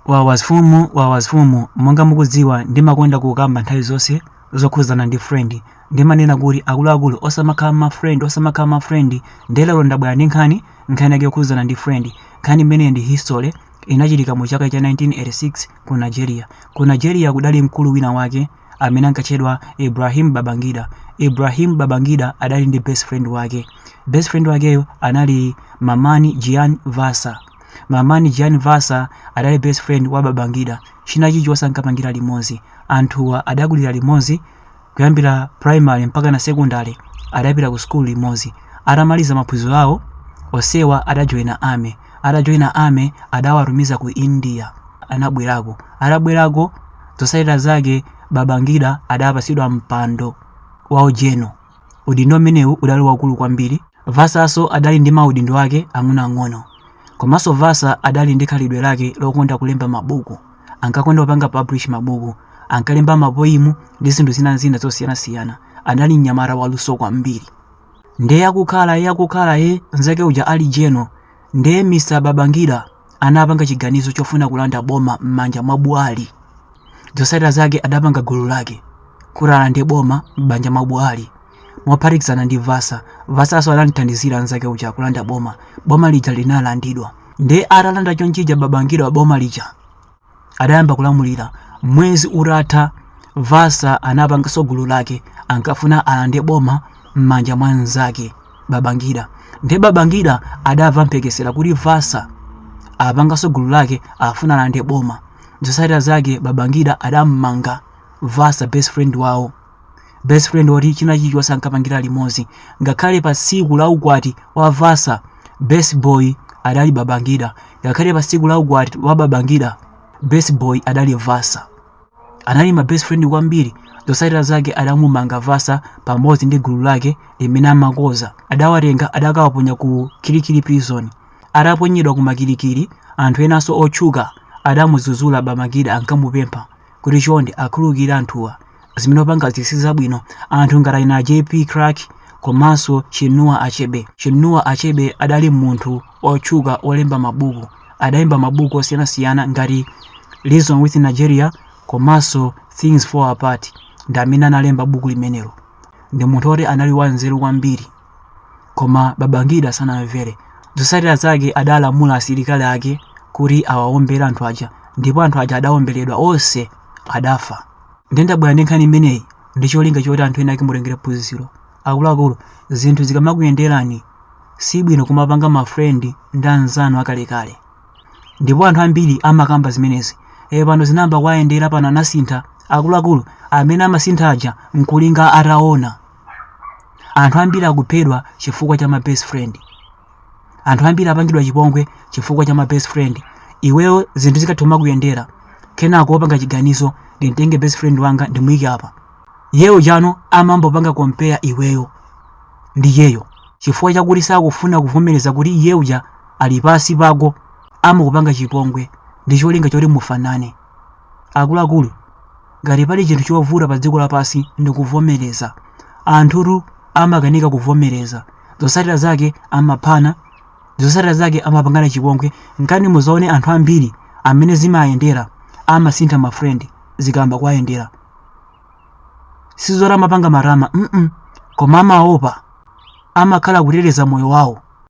Wawa mfumu monga mukudziwa ndimakonda kukamba nthawi zonse zokhuzana ndi friend ndimanena kuti akuluakulu osamakhala ma friend nde lero ndabwera ndi nkhani nkhani yake yokhuzana ndi friend nkhani imeneyo ndi history inachitika mu chaka cha 1986 ku Nigeria ku Nigeria kudali mkulu wina wake amene ankatchedwa Ibrahim Babangida Ibrahim Babangida adali ndi best friend wake best friend wakeyo anali Mamman Jiya Vatsa Mamman Jiya Vatsa adali best friend wa Babangida, china chilichonse ankapangira limodzi. Anthuwa adakulira limodzi kuyambira primary mpaka na secondary adapita ku school limodzi. Atamaliza maphunziro awo, onsewa adajoina army. Atajoina army adawatumiza ku India. Anabwerako. Atabwerako, zotsatira zake Babangida adapatsidwa mpando wa ugeneral. Udindo umenewu udali waukulu kwambiri. Vatsanso adali ndi maudindo ake ang'onoang'ono. Komanso Vatsa adali ndi khalidwe lake lokonda kulemba mabuku. Ankakonda kupanga publish mabuku. Ankalemba mapoimu ndi zinthu zina zina zosiyanasiyana. Adali mnyamata waluso kwambiri. Ndiye akukhala, iye akukhala, iye, nzake uja ali General. Ndiye Mr. Babangida. anapanga chiganizo chofuna kulanda boma m'manja mwa Buhari. Zotsatira zake adapanga gulu lake kuti alande boma m'manja mwa Buhari mophatikizana ndi Vatsa. Vatsanso anamthandizira mnzake uja kulanda boma. Boma lija linalandidwa. Ndiye atalanda chonchija Babangida boma lija, adayamba kulamulira mwezi utatha vatsa anapanganso gulu lake ankafuna alande boma m'manja mwa mnzake babangida nde babangida adamva mphekesera kuti vatsa apanganso gulu lake afuna alande boma zotsatira zake babangida adammanga vatsa best friend wawo Best friend woti china chilichonse ankapangira limodzi ngakhale pa tsiku la ukwati wa Vatsa Best Boy adali Babangida ngakhale pa tsiku la ukwati wa Babangida Best Boy adali Vatsa anali ma best friend kwambiri zotsatira zake adamumanga Vatsa pamodzi ndi gulu lake limene amakonza adawatenga adakawaponya ku Kirikiri prison ataponyedwa kuma Kirikiri anthu enanso otchuka adamudzudzula Babangida ankamupempha kuti chonde akhululukire anthuwa zimene wapangazi si zabwino anthu ngati achina JP Clark komanso Chinua Achebe. Chinua Achebe adali munthu otchuka wolemba mabuku, adalemba mabuku osiyanasiyana ngati Reason With Nigeria komanso Things Fall Apart ndi amene analemba buku limenelo. Ndi munthu oti anali wanzeru kwambiri. Koma Babangida sanamvere. Zotsatira zake adalamula asilikali ake kuti awawombere anthu aja ndipo anthu aja adawomberedwa onse adafa. Ndiye ndabwera ndi nkhani imeneyi ndi cholinga choti anthu ena ake mutengere phunziro. Akuluakulu, zinthu zikamakuyenderani si bwino kumapanga ma friend ndi anzanu akalekale. Ndipo anthu ambiri amakamba zimenezi. E, pano zinayamba kuwayendera, pano anasintha. Akuluakulu, amene amasintha aja n'kulinga ataona. anthu ambiri akuphedwa chifukwa cha ma best friend anthu ambiri apangidwa chipongwe chifukwa cha ma best friend iweyo zinthu zikayamba kuyendera kenako wapanga chiganizo ndimtenge best friend wanga ndimuyike apa iyeyo tsano amangopanga compare iweyo ndi iyeyo chifukwa chakuti sakufuna kuvomereza kuti iye uja ali pansi pako amakupanga chipongwe ndi cholinga choti mufanane Akuluakulu, ngati pali chinthu chovuta pa dziko lapansi ndi kuvomereza. Anthutu amakanika kuvomereza. Zotsatira zake amaphana, zotsatira zake amapangana chipongwe. Nkhani muzaone anthu ambiri amene zimayendera amasintha ma friend zikayamba kuwayendera. Sizoti amapanga matama, mm koma amaopa, amakhala kuteteza moyo wawo.